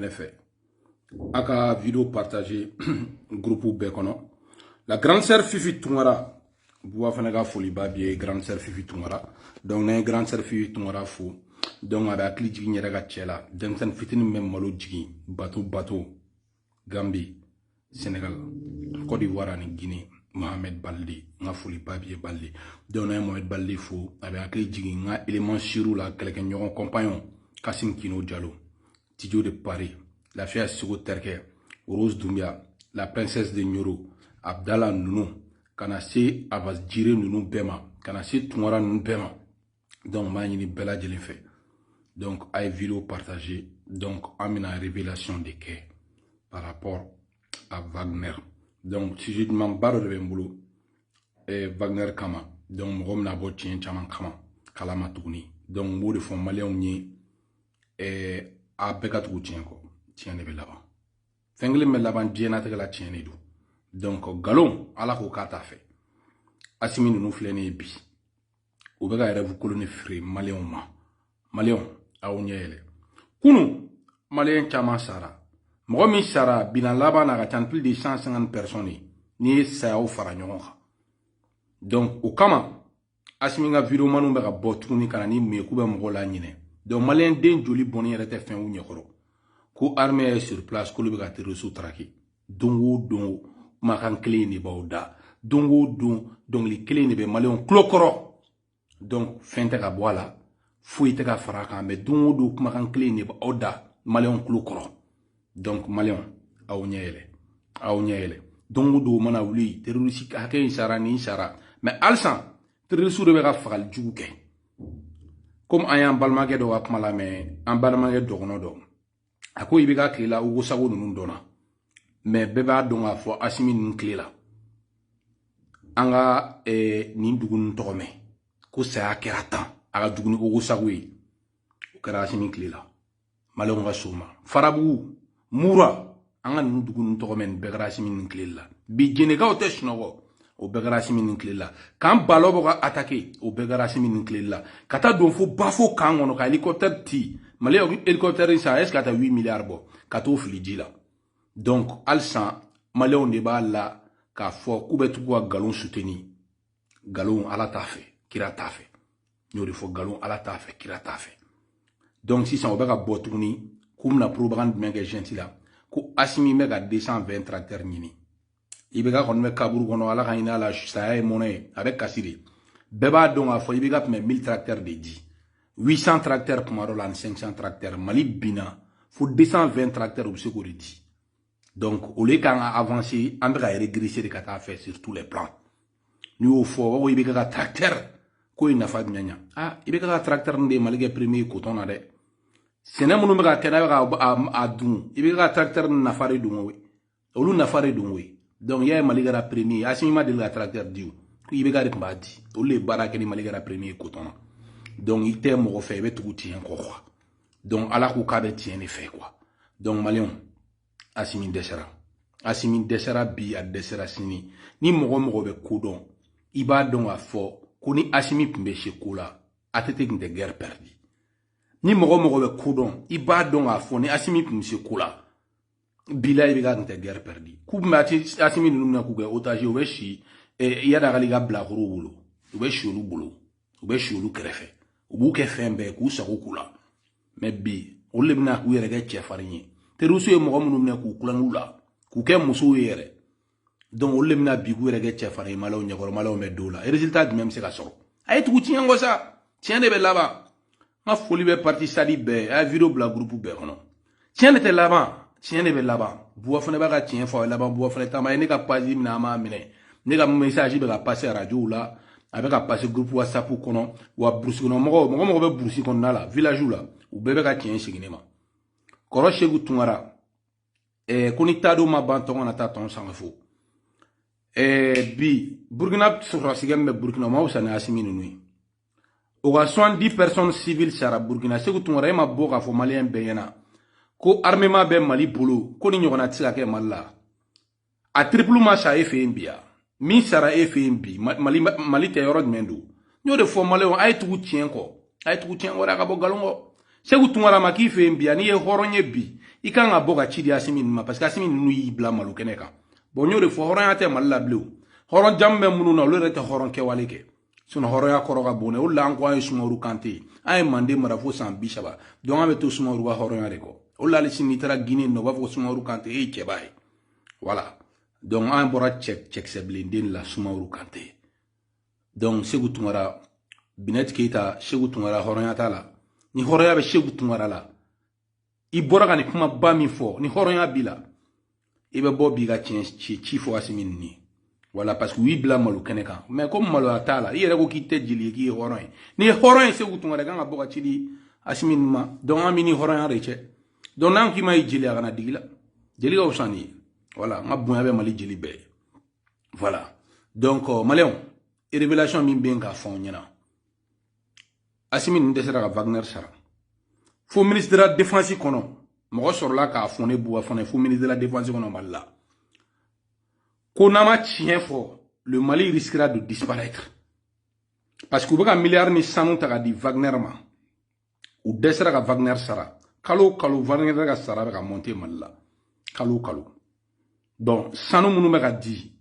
ne fɛ a ka video partage groupe bɛɛ kɔnɔ la grande sœur fifi tunkara buba fanɛ ka foliba b'i ye grande sœur fifi tunkara donc n'an ye grande sœur fifi tunkara fo donc a bɛ hakili jigin yɛrɛ ka cɛ la denmisɛnnin fitinin bɛ malo jigin bato bato gambi Sénégal Côte d'Ivoire ani Guinée Mohamed Balde n ka foli ba b'i ye Balde donc n'an ye Mohamed Balde fo a bɛ hakili jigin n ka élément sûrw la kɛlɛkɛɲɔgɔn compagnon Kasim Kino Diallo Tijo de Paris Lafiya Seko Tɛrikɛ Rose Doumbia La Princesse de Nyoro Abdala ninnu ka na se Abas Jire ninnu bɛɛ ma ka na se Tunkara ninnu bɛɛ ma donc n b'a ɲini bɛɛ lajɛlen fɛ donc a ye video partage donc an bɛna révélation de kɛ par rapport à Wagner donc sujet dumanba dɔ de bɛ n bolo eh, Wagner kama donc mɔgɔ bɛna bɔ tiɲɛ caman kama kalama tuguni donc n b'o de fɔ maliyɛnw ye eh, a bɛɛ ka tugu tiɲɛ kɔ tiɲɛ de bɛ laban fɛn kelen bɛ laban diɲɛnatigɛ la tiɲɛ de don donc nkalon ala ko k'a t'a fɛ asimi ninnu filɛ nin ye bi u bɛ ka rêve kolonnin feere maliyɛnw ma maliyɛnw aw ɲɛ yɛlɛ kunu maliyɛn caman sara mɔgɔ min sara bilan laban na ka ca ni plus de 150 personnes ye n'i ye sayaw fara ɲɔgɔn kan donc o kama asimi ka videomanw bɛ ka bɔ tuguni ka na ni mun ye k'u bɛ mɔgɔw laɲinɛ donc maliyɛn den joli bɔnni yɛrɛ tɛ fɛn u ɲɛkɔrɔ ko armée est sur place k'olu bɛ ka terrorisiw traquer don o don kumakan kelen in de b'aw da don o don dɔnkili kelen de bɛ maliyɛnw tulo kɔrɔ donc fɛn tɛ ka bɔ a la foyi tɛ ka fara a kan mais don o don kumakan kelen de b'aw da maliyɛnw tulo kɔrɔ donc maliyɛnw aw ɲɛ yɛlɛ aw ɲɛ yɛlɛ don o don mana wuli terorisi hakɛ in sara nin sara mais halisa terorisiw de bɛ ka fagali jugu kɛ komi an y'an balimakɛ dɔ ka kuma lamɛn an balimakɛ dɔgɔnɔ dɔ a ko IBK tile la ogosago ninnu dɔnna mais bɛɛ b'a dɔn k'a fɔ asimi ninnu tile la an ka eh, nin dugu ninnu tɔgɔ mɛn ko saya kɛra tan a ka jugu ni ogosago ye o kɛra asimi tile la maliyɛnw ka so ma farabugu mura an ka ninnu dugu ninnu tɔgɔ mɛn nin bɛɛ kɛra asimi ninnu tile la bi jɛnɛkaw tɛ sunɔgɔ o bɛɛ kɛra asimi ninnu tile la camp balobo k'a atake o bɛɛ kɛra asimi ninnu tile la ka taa don fo bafo camp kɔnɔ ka helicoptère ti mali helicoptère san jusqu'à 8 milliards bɔ ka t'o fili ji la donc halisa maliyɛnw de b'a la k'a fɔ k'u bɛ tugu ka nkalon suteni nkalon ala t'a fɛ kira t'a fɛ n y'o de fɔ nkalon ala t'a fɛ kira t'a fɛ donc sisan o bɛ ka bɔ tuguni k'u bɛna propagande jumɛn kɛ junte la ko asimi bɛ ka 220 tracteurs ɲini IBK kɔni bɛ kaburu kɔnɔ ala ka hinɛ a la saya ye mɔnɛ ye a bɛ kasi de bɛɛ b'a dɔn k'a fɔ IBK tun bɛ 1000 tracteurs de di 800 tracteurs tuma dɔ la ani 500 tracteurs mali binna fo 220 tracteurs u bɛ se k'o de di donc au lieu k'an ka avancer an bɛ ka regresser de ka taa fɛ sur tous les plans n'i y'o fɔ u b'a fɔ IBK tracteur k'o ye nafa jumɛn ɲa ah IBK tracteur ninnu de mali kɛ premier coton na dɛ sɛnɛ minnu bɛ ka kɛ n'a bɛ ka a dun IBK tracteur ninnu nafa de don o ye olu nafa de don koyi donc y'a ye mali kɛra premier asimi ma deli ka tracteur di o ko IBK de tun b'a di olu de ye baara kɛ ni mali kɛra premier coton na donc i tɛ mɔgɔ fɛ i bɛ tugu tiɲɛ kɔ quoi donc ala ko k'a bɛ tiɲɛ de fɛ quoi donc maliyɛnw asimi dɛsɛra asimi dɛsɛra bi a dɛsɛra sini ni mɔgɔ mɔgɔ bɛ ko dɔn i b'a dɔn k'a fɔ ko ni asimi tun bɛ se ko la ATT tun tɛ guerre perdi ni mɔgɔ mɔgɔ bɛ ko dɔn i b'a dɔn k'a fɔ ni asimi tun bɛ se ko la bila IBK tun tɛ guerre perdi k'u bɛ asimi ninnu minɛ k'u kɛ otage u bɛ si iyad ag ghali ka bilakorow bolo u bɛ si olu bolo u bɛ si olu kɛrɛfɛ u b'u kɛ fɛn bɛɛ k'u sago k'u la mais bi olu de bɛna k'u yɛrɛ kɛ cɛfarin ye terroristes ye mɔgɔ minnu minɛ k'u kulanw la k'u kɛ musow ye yɛrɛ donc olu le bɛna bi k'u yɛrɛ kɛ cɛfarin ye malaw ɲɛkɔrɔ malaw bɛ dɔw la résultat jumɛn bɛ se ka sɔrɔ a ye tugu tiɲɛ kɔ sa tiɲɛ de bɛ laban n ka foli bɛ parti sadi bɛɛ a ye video bila groupe bɛɛ kɔnɔ tiɲɛ de bɛ laban tiɲɛ de bɛ laban buba fane b'a ka tiɲɛ fɔ a ye laban buba fane ta ma a ye ne ka page minɛ a m'a minɛ ne ka message bɛ ka passer arajow la a bɛ ka passer groupe whatsapp kɔnɔ wa burusi kɔnɔ mɔgɔw mɔgɔ mɔgɔ bɛ burusi kɔnɔna la village la u bɛɛ bɛ ka tiɲɛ segin ne ma kɔrɔ seku tunkara eh, ko ni tadon ma ban tɔn kana taa tɔn sanga fo eh, bi burkina sɔrɔdasikɛ min bɛ burkina ma wusa ni asimi ninnu ye o ka 70 personnes civile sara burkina seku tunkara e ma bɔ k'a fɔ maliyɛn bɛɛ ɲɛna ko armement bɛ mali bolo ko nin ɲɔgɔnna tɛ se ka kɛ mali la a triple ma sa e fɛ yen bi wa min sara e fɛ yen bi mali tɛ yɔrɔ jumɛn don n y'o de fɔ maliyɛnw a ye tugu tiɲɛ kɔ a ye tugu tiɲɛ kɔ dɛ a ka bɔ nkalon kɔ seku tunkara ma k'i fɛ yen bi wa n'i ye hɔrɔn ye bi i kan ka bɔ ka ci di asimi ninnu ma parce que asimi ninnu y'i bila malo kɛnɛ kan bon n y'o de fɔ hɔrɔnya tɛ mali la bilen o hɔrɔn jamu bɛ minnu na olu yɛrɛ tɛ hɔrɔn kɛwale kɛ sinɔn hɔrɔnya kɔrɔ ka bon dɛ o de la an ko an ye sumaworo kante ye an ye manden mara fo san bi saba donc an bɛ to sumaworo ka hɔrɔnya de kɔ o de la hali sini n'i taara guinee nɔ u b'a fɔ ko sumaworo kante e ye cɛba ye voilà donc an bɔra cɛ cɛkisɛ bilenden de la sumaworo kante donc seku tunkara binɛti keyita seku tunkara hɔrɔnya t'a la ni hɔrɔnya bɛ seku tunkara la i bɔra ka nin kumaba min fɔ ni hɔrɔnya b'i la i bɛ bɔ b'i ka tiɲɛ ci ci fɔ asimi nin ye voilà parce que u y'i bila malo kɛnɛ kan mais comme maloya t'a la i yɛrɛ ko k'i tɛ jeli ye k'i ye hɔrɔn ye n'i ye hɔrɔn ye seku tunkara kan ka bɔ ka ci di asimi nin ma donc an bɛ ni hɔrɔnya de cɛ donc n'an k'i ma ye jeli a kana digi i la jeli ka fisa n'i ye voilà n ka bonya bɛ mali jeli bɛɛ ye voilà donc maliyɛnw révélation min bɛ yen k'a fɔ an ɲɛna asimi nin dɛsɛra ka wagner sara fo ministre de la défense kɔnɔ mɔgɔ sɔrɔla k'a fɔ ne buba fane fo ministre de la défense kɔnɔ mali la ko n'a ma tiɲɛ fɔ le mali risquera de disparaître parce que u bɛ ka miliyari ni sanu ta ka di wagner ma u dɛsɛra ka wagner sara kalo o kalo wagner ka sara bɛ ka monter mali la kalo o kalo donc sanu minnu bɛ ka di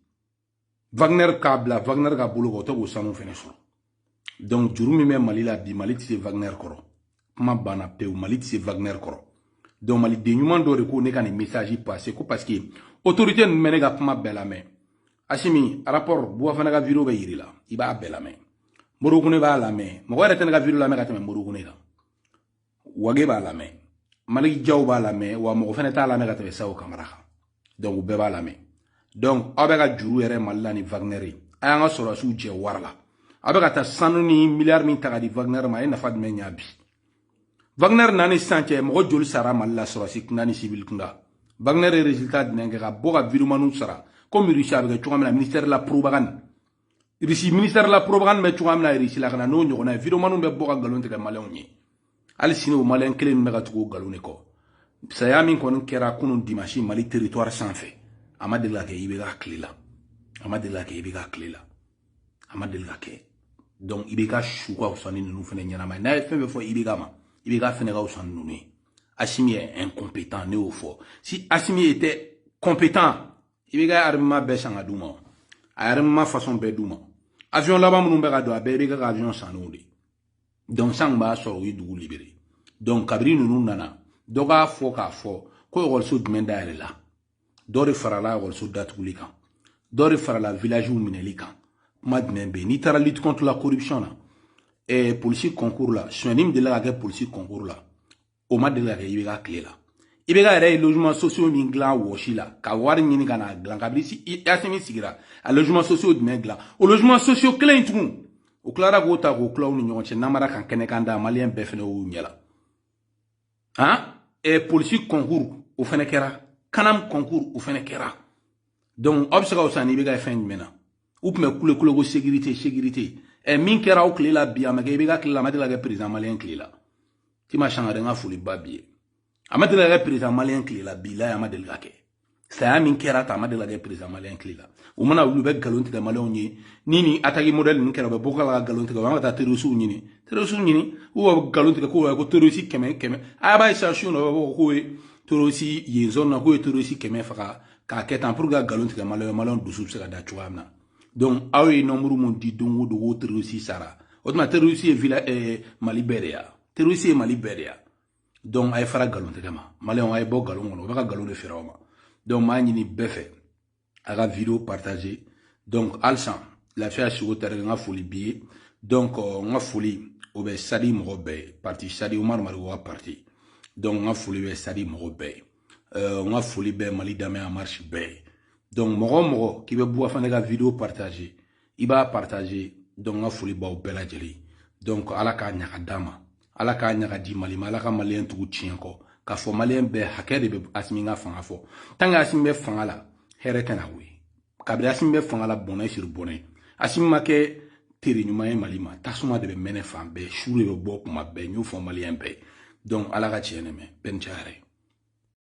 wagner k'a bila wagner ka bolo kan o tɛ k'o sanu fɛnɛ sɔrɔ donc juru min bɛ mali la bi mali tɛ se wagner kɔrɔ kuma banna pewu mali tɛ se wagner kɔrɔ donc maliden ɲuman dɔ de ko ne ka nin message passer ko parce que autorité ninnu bɛ ne ka kuma bɛɛ lamɛn asimi rapport buba fane ka video bɛ yir'i la i b'a bɛɛ lamɛn modibo kone b'a lamɛn mɔgɔ yɛrɛ tɛ ne ka video lamɛn ka tɛmɛ modibo kone kan wage b'a lamɛn maliki jaw b'a lamɛn wa mɔgɔ fɛnɛ t'a lamɛn ka tɛmɛ sajo kamara kan donc u bɛɛ b'a lamɛn donc aw bɛ ka juru yɛlɛ mali la ni wagner ye a y'an ka sɔrɔdasiw jɛ wari la aw bɛ ka taa sanu ni miliyari min ta ka di wagner ma a ye nafa jumɛn ɲa bi wagner na ni sisan cɛ mɔgɔ joli sara mali la sɔrɔdasi kunda ni sivili kunda wagner ye résultat jumɛn kɛ ka bɔ ka videomaniw sara komi rusi a bɛ kɛ cogoya min na ministère la propagande irisi ministère la propagande bɛ cogoya min na irisi la ka na n'o ɲɔgɔnna ye videomaniw bɛ bɔ ka nkalon tigɛ maliyɛnw ye hali sini o maliyɛn kelen min bɛ ka tugu o nkalon de kɔ saya min kɔni kɛra kunun dimansi mali territoire sanfɛ a ma deli ka kɛ ibk tile la a ma deli ka kɛ ibk tile la a ma deli ka kɛ donc ibk su ka fisa ni ninnu fana ɲɛnama ye n'a ye fɛn fɛn fɔ ibk ma ibk fɛnɛ ka fisa ni ninnu ye asimi est incompétent ne y'o fɔ si asimi était compétent ibk armement bɛɛ san ka d'u ma a ye armement façon bɛɛ d'u ma avion laban minnu bɛ ka don a bɛɛ ibk ka avion sannenw de donc sisan tun b'a sɔrɔ u ye dugu libérer donc kabiri ninnu nana dɔ k'a fɔ k'a fɔ ko ekɔliso jumɛn dayɛlɛla dɔ de farala ekɔliso datuguli kan dɔ de farala villagew minɛli kan kuma jumɛn bɛ yen n'i taara lutte contre la corruption na eh, polisi concours la sonyani min delila ka kɛ polisi concours la o ma deli ka kɛ ibk tile la ibk yɛrɛ ye logement sociaux min dilan wɔsi la ka wari ɲini ka n'a dilan kabini asimi sigira a logement sociaux jumɛn dilan o logement sociaux kelen in tugun u tilara k'o ta k'o tila u ni ɲɔgɔn cɛ namara kan kɛnɛkanda maliyɛn bɛɛ fana y'u ɲɛ la han ɛ polisi concours o fana kɛra canam concours o fana kɛra donc aw bɛ se ka wusa ni ibk ye fɛn jumɛn na u tun bɛ kule kule ko sécurité sécurité ɛ min kɛra aw tile la bi a ma kɛ ibk tile la a ma deli ka kɛ président maliyɛn tile la tima sangare n ka foli ba b'i ye a ma deli ka kɛ perezidan maliyɛn tile la bilahi a ma deli ka kɛ saya min kɛra tan a ma deli ka kɛ perezidan maliyɛn tile la u mana wuli u bɛ nkalon tigɛ maliyɛnw ye ni nin ataki mɔdɛli ninnu kɛra u bɛ bɔ ka na ka nkalon tigɛ u y'an ka taa terɔrisiw ɲini terɔrisiw ɲini u ka nkalon tigɛ k'o ko terɔrisi kɛmɛ kɛmɛ a b'a ye sa su na u b'a fɔ k'o ye terɔrisi ye nin zɔn na k'o ye terɔrisi kɛmɛ faga k'a kɛ tan pour que ka nkalon tigɛ maliyɛn maliyɛn dusu bɛ se ka da cogoya min na donc aw ye nombre mun di don o don k'o terroriste sara o tuma terroriste ye vila eh, mali bɛɛ de ya terroriste ye mali bɛɛ de ya donc a ye fara nkalon tɛgɛ ma maliyɛnw a ye bɔ nkalon kɔnɔ o bɛ ka nkalon de feere aw ma donc m'a ɲini bɛɛ fɛ a ka video partager donc halisa lafiya sogo tari n ka foli b'i ye donc euh, n ka foli o bɛ sadi mɔgɔ bɛɛ ye parti sadi umaru mariko ka parti donc n ka foli bɛ sadi mɔgɔ bɛɛ ye euh, n ka foli bɛ mali danbe en marche bɛɛ ye donc mɔgɔ o mɔgɔ k'i bɛ buba fane ka video partager i b'a partager donc n ka foli b'aw bɛɛ lajɛlen donc ala k'a ɲa k'a d'an ma ala k'a ɲa k'a di mali ma ala ka maliyɛn tugu tiɲɛ kɔ k'a fɔ maliyɛn bɛɛ hakɛ de bɛ asimi ka fanga fɔ tant que asimi bɛ fanga la hɛrɛ tɛna o ye kabiri asimi bɛ fanga la bɔnɛ sur bɔnɛ asimi ma kɛ tere ɲuman ye mali ma tasuma de bɛ mɛnɛ fan bɛɛ su de bɛ bɔ kuma bɛɛ n y'o fɔ maliyɛn bɛɛ donc ala ka tiɲɛ dɛmɛ bɛɛ ni ce a yɛrɛ ye